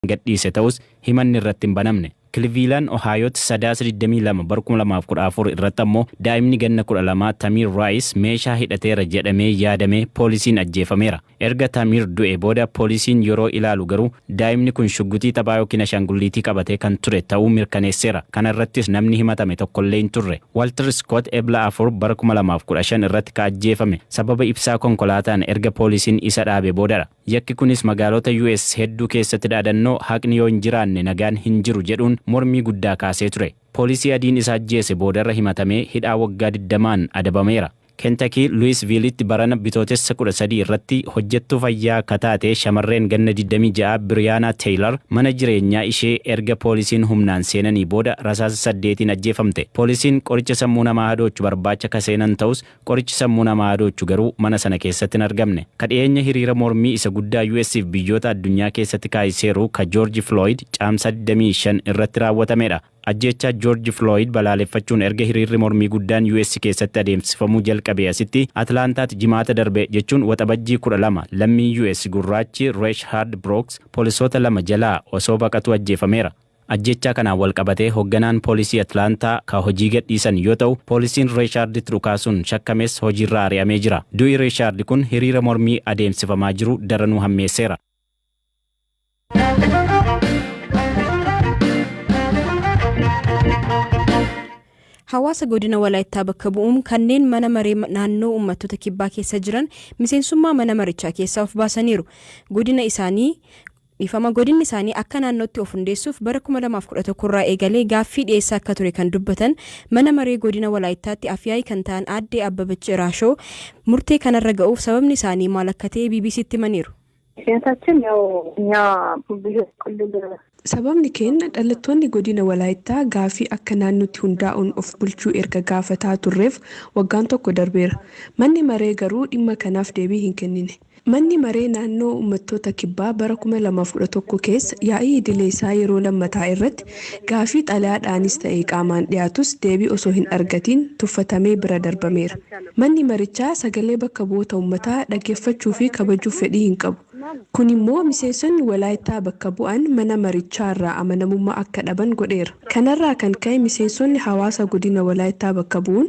kan gadhiise ta'us himanni irratti hin banamne. Kilviilan Ohaayootti Sadaasa 22 bara 2014 irratti ammoo daa'imni ganna 12 Tamiir Raayis meeshaa hidhateera jedhamee yaadamee poolisiin ajjeefameera. Erga Tamiir du'ee booda poolisiin yeroo ilaalu garuu daa'imni kun shugguxii taphaa ykn ashaangulliitii qabatee kan ture ta'uu mirkaneesseera. Kana irrattis namni himatame tokkollee hin turre. Walter Scott Ebla 4 bara 2015 irratti ka ajjeefame sababa ibsaa konkolaataan erga poolisiin isa dhaabe boodadha. Yakki kunis magaalota US hedduu keessatti dhaadannoo haqni yoo hin jiraanne nagaan hin jiru jedhuun mormii guddaa kaasee ture. Poolisii adiin isa ajjeese boodarra himatamee hidhaa waggaa digdamaan adabameera. Kentakii Luwisviilitti barana Bitootessa kudha sadii irratti hojjettuu fayyaa ka taate shamarreen ganna digdamii ja'a Biriyaanaa Teeylar mana jireenyaa ishee erga poolisiin humnaan seenanii booda rasaasa saddeetiin ajjeefamte. Poolisiin qoricha sammuu namaa hadoochu barbaacha ka seenan ta'us Qorichi sammuu namaa hadoochu garuu mana sana keessatti hin argamne. Ka dhiyeenya hiriira mormii isa guddaa US fi biyyoota addunyaa keessatti kaaiseeru ka Joorji Filooyid Caamsaa 25 irratti raawwatamedha. Ajjeechaa Joorji Filooyid balaaleffachuun erga hiriirri mormii guddaan US keessatti adeemsifamuu jalqabee asitti Atlaantaatti Jimaata darbe jechuun Waxabajjii 12 lammiin US gurraachi Reeshhaard Birooks poolisoota lama jalaa osoo baqatuu ajjeefameera. Ajjeechaa kanaan walqabatee hogganaan poolisii Atlaantaa ka hojii gadhiisan yoo ta'u, poolisiin Reeshaarditti dhukaasuun shakkames hojiirraa ari'amee jira. Du'i Reeshaardi kun hiriira mormii adeemsifamaa jiru daranuu hammeesseera. Hawaasa godina Walaayittaa bakka bu'uun kanneen mana maree naannoo uummattoota kibbaa keessa jiran miseensummaa mana marichaa keessaa of baasaniiru. Godina isaanii Dhiifama, Godinni isaanii akka naannootti of hundeessuuf bara 2011 irraa eegalee gaaffii dhiyeessaa akka ture kan dubbatan Mana Maree Godina Walaayittaatti Afyaa'ii kan ta'an Aadde Abbabach Iraashoo, murtee kanarra ga'uuf sababni isaanii maal akka ta'e BBC'tti himaniiru. Mikyaasaachin yaw nya biyya qullulla. Sababni keenya dhalattoonni Godina Walaayittaa gaaffii akka naannootti hundaa'uun of bulchuu erga gaafataa turreef waggaan tokko darbeera. Manni Maree garuu dhimma kanaaf deebii hin kennine. Manni Maree Naannoo Uummattoota Kibbaa bara 2011 keessa yaa'ii idilee isaa yeroo lammataa irratti gaafii xalayaadhaanis ta'e qaamaan dhiyaatus deebii osoo hin argatiin tuffatamee bira darbameera. Manni marichaa sagalee bakka bu'oota uummataa dhaggeeffachuu fi kabajuuf fedhii hin qabu. Kun immoo miseensonni Walaayittaa bakka bu'an mana marichaa irraa amanamummaa akka dhaban godheera. Kanarraa kan ka'e miseensonni hawaasa godina Walaayittaa bakka bu'uun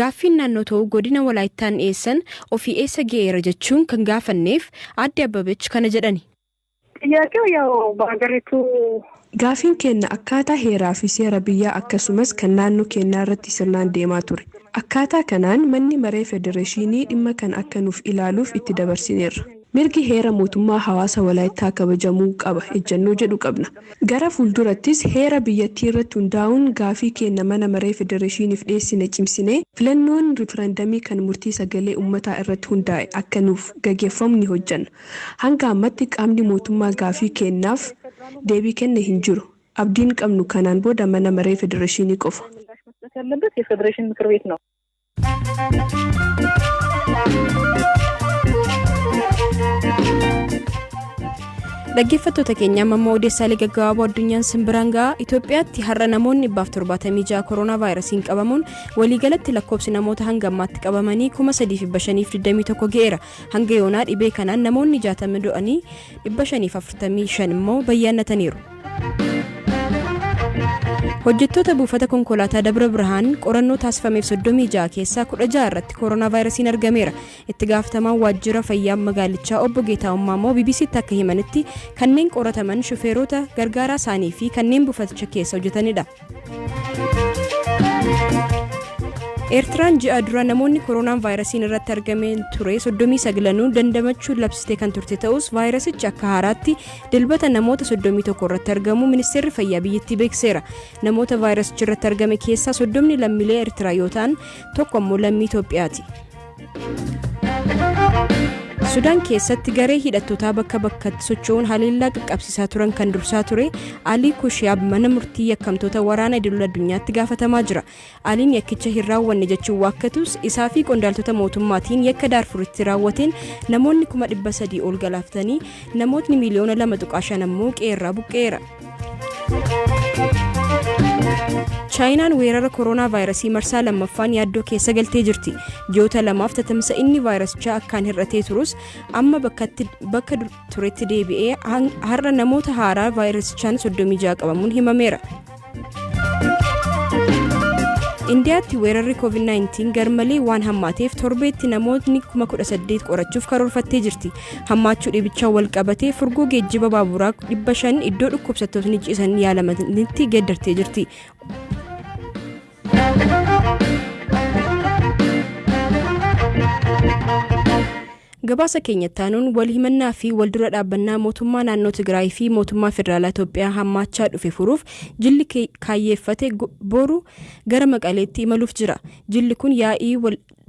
Gaaffiin naannoo ta'uu Godina Walaayittaan dhiyeessan ofii eessa ge'eera jechuun kan gaafanneef Aadde Abbabech kana jedhani. Xiyyaaqew yaw ba'agarituu. Gaafiin keenna akkaataa heeraa fi seera biyyaa akkasumas kan naannoo keennaa irratti sirnaan deemaa ture. Akkaataa kanaan Manni Maree Federeshiinii dhimma kana akka nuuf ilaaluuf itti dabarsineerra. Mirgi heera mootummaa hawaasa Walaayittaa kabajamuu qaba ejjannoo jedhu qabna. Gara fuuldurattis heera biyyattii irratti hundaa'uun gaafii keenna Mana Maree Federeeshiiniif dhiyeessine cimsinee filannoon riferandamii kan murtii sagalee ummataa irratti hundaa'e akka nuuf gageffamu ni hojjanna. Hanga ammatti qaamni mootummaa gaafii keennaaf deebii kenne hin jiru. Abdiin qabnu kanaan booda Mana Maree Federeeshiinii qofa. Dhaggeeffattoota keenya amma immoo odeessaalee gaggabaaboo addunyaan simbiraan ga'a Itoophiyaatti har'a namoonni 176 koronaa vaayirasiin qabamuun waliigalatti lakkoobsi namoota hanga ammaatti qabamanii 3521 ga'eera hanga yoonaa dhibee kanaan namoonni 60 du'anii 545 immoo bayyaannataniiru. Hojjettoota buufata konkolaataa Dabra Birhaan qorannoo taasifameef 36 keessaa 16 irratti koronaavaayirasiin argameera. Itti gaafatamaan waajjira fayyaa magaalichaa obbo Geetaawwan Maamoo BBC'tti akka himanitti kanneen qorataman shufeerota, gargaaraa isaanii fi kanneen buufaticha keessa hojjetanidha. Eertiraan ji'a dura namoonni koronaan vaayirasiin irratti argameen ture 39 dandamachuun labsitee kan turte ta'us vaayirasichi akka haaraatti dilbata namoota 31 irratti argamu ministeerri fayyaa biyyattii beekseera. Namoota vaayirasichi irratti argame keessaa 30 lammiilee Eertiraa yoo ta'an tokko immoo lammii Itoophiyaati. Sudaan keessatti garee hidhattootaa bakka bakkatti socho'uun haleellaa qaqqabsiisaa turan kan dursaa ture Alii Kushiyaab mana murtii yakkamtoota waraana idil addunyaatti gaafatamaa jira. Aliin yakkicha hin raawwanne jechuun waakkatus isaa fi qondaaltota mootummaatiin yakka daarfuritti raawwateen namoonni kuma dhibba sadii ol galaafatanii namootni miiliyoona lama tuqaa shan ammoo qe'eerraa buqqa'eera. chaayinaan weerara koroonaa vaayirasii marsaa lammaffaan yaaddoo keessa galtee jirti ji'oota lamaaf tatamsa inni vaayirasichaa akkaan hir'atee turus amma bakkatti bakka dur- turetti deebi'ee han- har'a namoota haaraa vaayirasichaan 36 qabamuun himameera indiyaatti weerarri covid-19 garmalee waan hammaateef torbeetti namootni 18,000 qorachuuf karoorfattee jirti Hammaachuu dhibichaan wal qabatee furgoo geejjiba baaburaa 500 iddoo dhukkubsattootni ciisan yaalamanitti geeddartee jirti. Gabaasa keenya taanuun wal himannaa fi wal dura dhaabbannaa mootummaa naannoo Tigraay fi mootummaa federaalaa Itoophiyaa hammaachaa dhufe furuuf jilli kaayyeeffate boru gara maqaleetti imaluuf jira. Jilli kun yaa'ii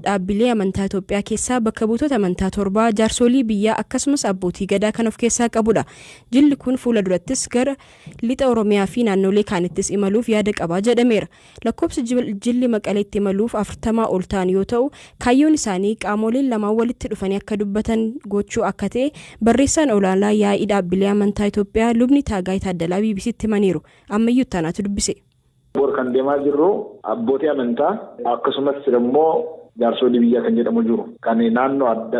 dhaabbilee amantaa Itoophiyaa keessaa bakka buutota amantaa torbaa, jaarsoolii biyyaa akkasumas abbootii gadaa kan of keessaa qabudha. Jilli kun fuula durattis gara Lixa Oromiyaa fi naannoolee kaanittis imaluuf yaada qaba jedhameera. Lakkoobsi jilli Maqaleetti imaluuf afurtamaa ol ta'an yoo ta'u, kaayyoon isaanii qaamooleen lamaan walitti dhufanii akka dubbatan gochuu akka ta'e barreessaan olaanaa yaa'ii dhaabbilee amantaa Itoophiyaa Lubni Taagaay Taaddalaa BBC'tti himaniiru. Ammayyuu Ittaanaatu dubbise. Bor kan deemaa jirru abbootii amantaa akkasumas immoo jaarsoolii biyyaa kan jedhamu jiru. Kan naannoo adda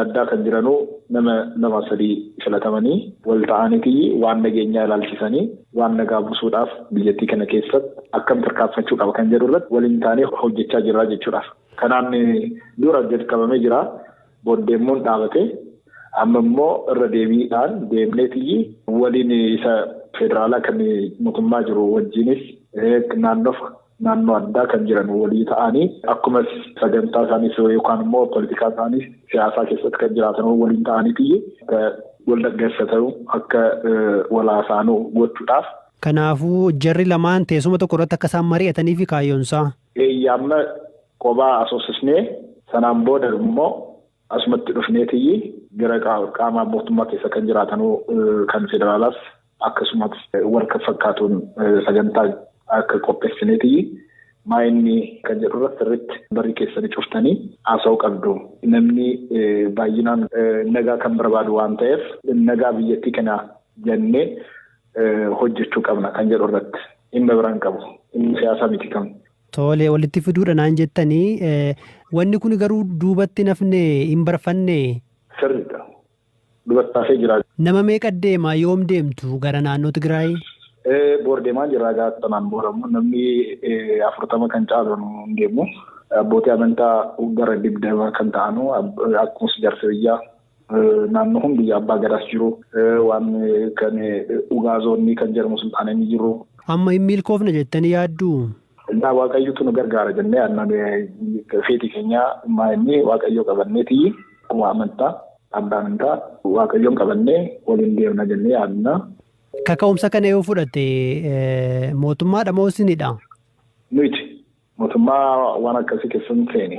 addaa kan jiranuu nama lama sadii filatamanii wal ta'aanitii waan nageenyaa ilaalchisanii waan nagaa busuudhaaf biyyattii kana keessatti akkam tarkaanfachuu qaba kan jedhu irratti waliin taanee hojjechaa jirraa jechuudhaaf. Kanaan dura jalqabamee jira. Booddeemmoo hin dhaabate. Amma immoo irra deebiidhaan deemneetiyyi waliin isa federaalaa kan mootummaa jiru wajjiinis naannoof naannoo addaa kan jiran walii ta'anii akkuma sagantaa isaaniis yookaan immoo politikaa isaaniis siyaasaa keessatti kan jiraatan waliin ta'aniitiyyi akka wal dhaggeessa ta'u akka wal haasaanu gochuudhaaf. Kanaafuu jarri lamaan teessuma tokko irratti akka isaan mari'ataniifi kaayyoonsaa. Eeyye amma qobaa asoosisnee sanaan booda immoo asumatti dhufneetiyyi gara qaama mootummaa keessa kan jiraatanuu kan federaalaas akkasumas wal kan fakkaatuun sagantaa akka qopheessineetiyyi maayinni kan jedhurra sirritti barri keessanii cuftanii haasa'uu qabdu. Namni baay'inaan nagaa kan barbaadu waan ta'eef nagaa biyyattii kana jennee hojjechuu qabna kan jedhu irratti dhimma biraan qabu dhimma siyaasaa miti kan. Tole walitti fiduudha naan jettanii wanni kun garuu duubatti nafne hin barfanne. Sirriidha. Duubatti hafee jira. Nama meeqa deema yoom deemtu gara naannoo Tigraay? Boor deemaa jira gaafa sanaan booda immoo namni afurtama kan caalu hin deemu. Abbootii amantaa gara digdama kan ta'anu akkuma ijaarsa biyyaa Naannoo kun biyya abbaa gadaas jiru waan kan ugaazoonni kan jedhamu sulxaanonni jiru. Amma hin milkoofna jettanii yaadduu? Egaa waaqayyotu nu gargaara jennee aannan feetii keenya maa inni waaqayyoo qabanneeti akkuma amantaa abbaa amantaa waaqayyoon qabannee waliin deemna jennee yaadna. Kaka'umsa kana yoo fudhatte mootummaadha moo isinidha? Nuti mootummaa waan akkasii keessa hin seene.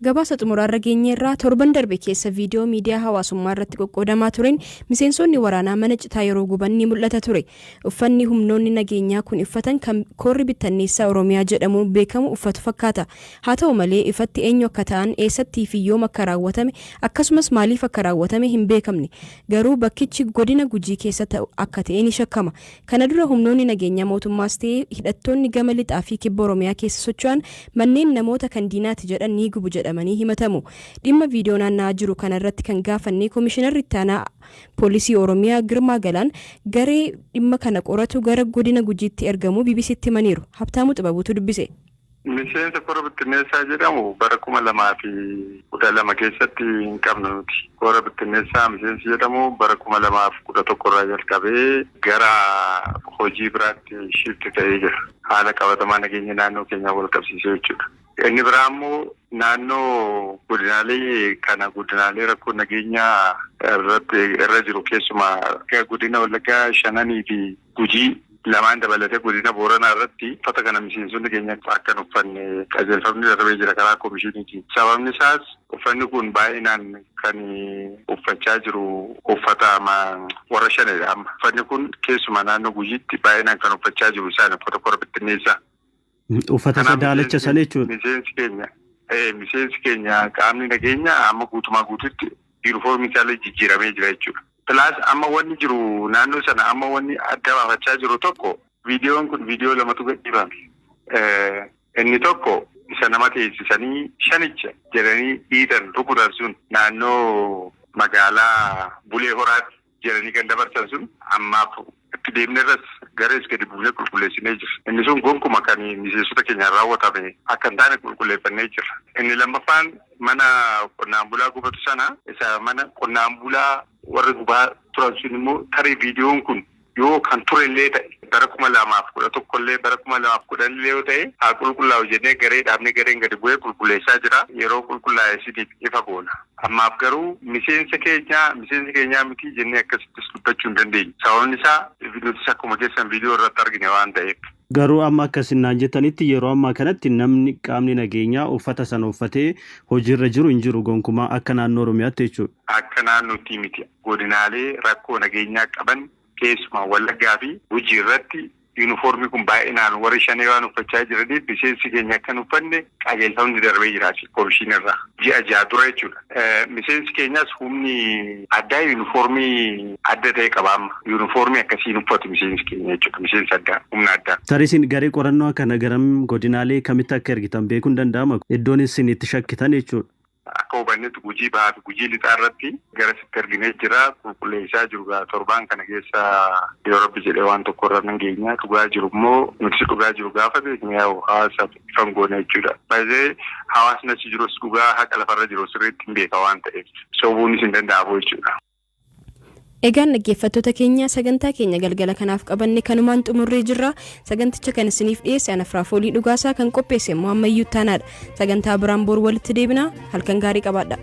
Gabaasa xumuraarra geenyeerra, torban darbe keessa viidiyoo miidiyaa hawaasummaa irratti qoqqoodamaa tureen miseensoonni waraanaa mana citaa yeroo guban ni mul'ata ture. Uffanni humnoonni nageenyaa kuni uffatan kan Koorri Bittanneessaa Oromiyaa jedhamuun beekamu uffatu fakkaata. Haa ta'u malee ifatti eenyu akka ta'an, eessattii fi yoom akka raawwatame akkasumas maaliif akka raawwatame hin beekamne. Garuu bakkichi godina Gujii keessa ta'u akka ta'e ni shakkama. Kana dura humnoonni nageenyaa mootummaas ta'e hidhattoonni gama Lixaa fi Kibba Oromiyaa keessa socho'an manneen namoota kan diinaati jedhan ni gubu jedhamanii himatamu. Dhimma viidiyoo naanna'aa jiru kana irratti kan gaafanne Komishinarri Itti Aanaa Poolisii Oromiyaa Girmaa Galaan garee dhimma kana qoratu gara Godina Gujiitti ergamuu BBC'tti himaniiru. Habtaamuu Xibabuutu dubbise. Miseensa Kora Bittinneessaa jedhamu bara 2012 keessatti hin qabnu nuti. Kora Bittinneessaa miseensi jedhamu bara 2011 irraa jalqabee gara hojii biraatti shift ta'ee jira. Haala qabatamaa nageenya naannoo keenyaan walqabsiisee jechuudha. Inni biraa immoo naannoo godinaalee kana godinaalee rakkoo nageenyaa irratti irra jiru keessumaa godina Wallaggaa shananii fi Gujii lamaan dabalatee godina Booranaa irratti uffata kana miseensonni keenya akka hin uffanne qajeelfamni darbee jira karaa komishiniitiin. Sababni isaas uffanni kun baay'inaan kan uffachaa jiru uffata warra Shaneedha. Amma uffanni kun keessumaa naannoo Gujiitti baay'inaan kan uffachaa jiru isaani uffata kora bittinneessaa. Uffata isa daalacha sana jechuudha. Miseensi keenya miseensi keenya qaamni nageenya amma guutumaa guututti yuunifoormii isaallee jijjiiramee jira jechuudha. Pilaas amma wanni jiru naannoo sana amma wanni adda baafachaa jiru tokko viidiyoon kun viidiyoo lamatu gadhiifame. Inni tokko isa nama teessisanii shanicha jedhanii dhiitan rukutan sun naannoo magaalaa Bulee Horaatti. jedhanii kan dabarsan sun ammaaf itti deemnerras garees gadi buunee qulqulleessinee jirra. Inni sun gonkuma kan miseensota keenyaan raawwatame akka hin taane qulqulleeffannee jirra. Inni lammaffaan mana qonnaan bulaa gubatu sana isa mana qonnaan bulaa warri gubaa turan sun immoo tarii viidiyoon kun yoo kan ture illee ta'e bara kuma lamaa fi kudha tokko illee bara kuma lamaa fi kudhan illee yoo ta'e haa qulqullaa'u jennee garee dhaabnee gareen gadi bu'ee qulqulleessaa jira. Yeroo qulqullaa'e isiniif ifa goona. Ammaaf garuu miseensa keenya, miseensa keenyaa miti jennee akkasittis dubbachuu hin dandeenyu. Sababni isaa nutis akkuma keessan viidiyoo irratti argine waan ta'eef. Garuu amma akka isin naan jettanitti yeroo ammaa kanatti namni, qaamni nageenyaa uffata sana uffatee hojiirra jiru hin jiru gonkumaa akka naannoo Oromiyaatti jechuudha. Akka naannootti miti. Godinaalee rakkoo nageenyaa qaban Keessumaa Wallaggaa fi Gujii irratti yuunifoormii kun baay'inaan warri Shanee waan uffachaa jiraniif miseensi keenya akka hin uffanne qajeelfamni darbee jira asiif komishiinarraa. Ji'a ja'a dura jechuudha. Miseensi keenyas humni addaa yuunifoormii adda ta'e qaba amma. Yuunifoormii akkasii hin uffatu miseensi keenya jechuudha. Miseensi addaa, humna addaa. Tarii isin garee qorannoo kana garam godinaalee kamitti akka ergitan beekuun danda'ama. Iddoon isin itti shakkitan jechuudha. Akka hubannetti Gujii Bahaa fi Gujii Lixaa irratti gara sitti erginee jira. Qulqulleessaa jiru egaa torbaan kana keessa yoo Rabbi jedhee waan tokko irra nan geenya. Dhugaa jiru immoo nutis dhugaa jiru gaafa beekne yaa'u hawaasaaf ifa hin goona jechuudha. By the way hawaasni achi jirus dhugaa haqa lafarra jiru sirriitti hin beeka waan ta'eef sobuunis hin danda'amu jechuudha. Egaan dhaggeeffattoota keenya sagantaa keenya galgala kanaaf qabanne kanumaan xumurree jirra. Saganticha kan isiniif dhiyeesse ana Firaafoolii Dhugaasaa kan qopheesse immoo ammayyuu ittaanaadha. Sagantaa biraan boru walitti deebina halkan gaarii qabaadha.